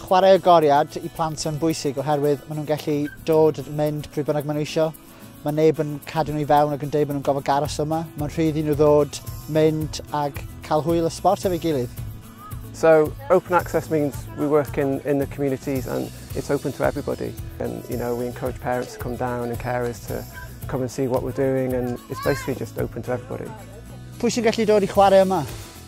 Chwarae agoriad i plant yn bwysig oherwydd maen nhw'n gallu dod yn mynd pryd bynnag maen nhw eisiau. Mae neb yn cadw nhw i fewn ac yn dweud maen nhw'n gofod garos yma. Mae'n rhydd i nhw ddod, mynd ac cael hwyl y sport efo'i gilydd. So open access means we work in, in the communities and it's open to everybody. And you know, we encourage parents to come down and carers to come and see what we're doing and it's basically just open to everybody. Pwy sy'n gallu dod i chwarae yma?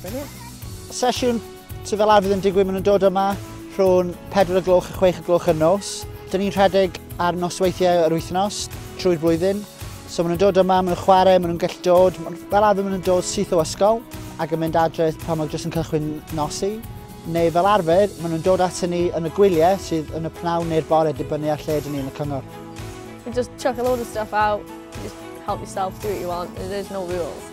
Brilliant. Sesiwn sydd fel arfer yn digwydd maen nhw'n dod yma rhwng 4 o gloch a 6 o gloch yn nos. Dyn ni'n rhedeg ar nosweithiau yr wythnos trwy'r blwyddyn. So maen nhw'n dod yma, maen nhw'n chwarae, maen nhw'n gallu dod. Fel arfer maen nhw'n dod syth o ysgol ac yn mynd adre pan mae jyst yn cychwyn nosi. Neu fel arfer, maen nhw'n dod ato ni yn y gwyliau sydd yn y pnawn neu'r bore dibynnu ar lle dyn ni yn y cyngor. We just chuck a load of stuff out, just help yourself, do what you want, there's no rules.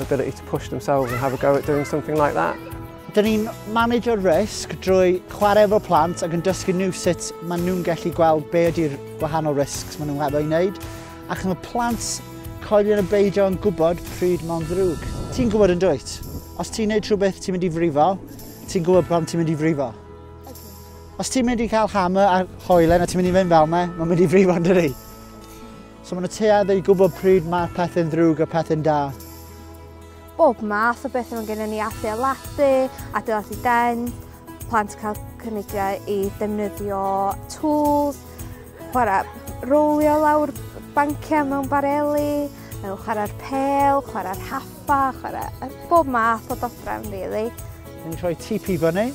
ability to push themselves and have a go at doing something like that. Dyn ni'n manager risk drwy chwarae efo plant ac yn dysgu nhw sut maen nhw'n gallu gweld be ydy'r gwahanol risks maen nhw'n hefo i wneud. Ac mae plant coelion y beidio yn gwybod pryd mae'n ddrwg. Ti'n gwybod yn dwyt? Os ti'n gwneud rhywbeth ti'n mynd i frifo, ti'n gwybod pam ti'n mynd i frifo. Os ti'n mynd i cael hammer a hoelen a ti'n mynd i fynd fel me, mae'n mynd i frifo yn dydi? So maen nhw tuedd i gwybod pryd mae pethau'n ddrwg a pethau'n da. Bob math o beth mae'n gennym ni adeiladu, adeiladu den, plant cael cynigiau i defnyddio tools, chwarae rowlio lawr banciau mewn bareli, mewn chwarae'r pel, chwarae'r haffa, chwarae bob math o dodrefn, really. Dyn ni'n rhoi TP fyny,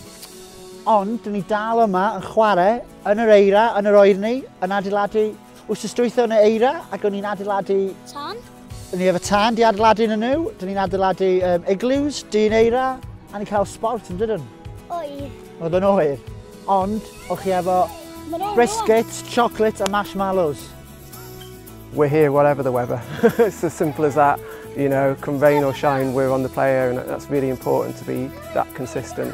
ond dyn ni dal yma yn chwarae yn yr eira, yn yr oerni, yn adeiladu Wsos dwytho yn y eira ac o'n i'n adeiladu... Tân? O'n i efo tân di adeiladu yn y nhw. Dyn ni'n adeiladu um, igloos, dyn eira, a ni'n cael sport yn dydyn? Oer. Oedd yn oer. Ond, o'ch chi efo biscuits, chocolates a marshmallows. We're here whatever the weather. It's as simple as that. You know, come rain or shine, we're on the player and that's really important to be that consistent.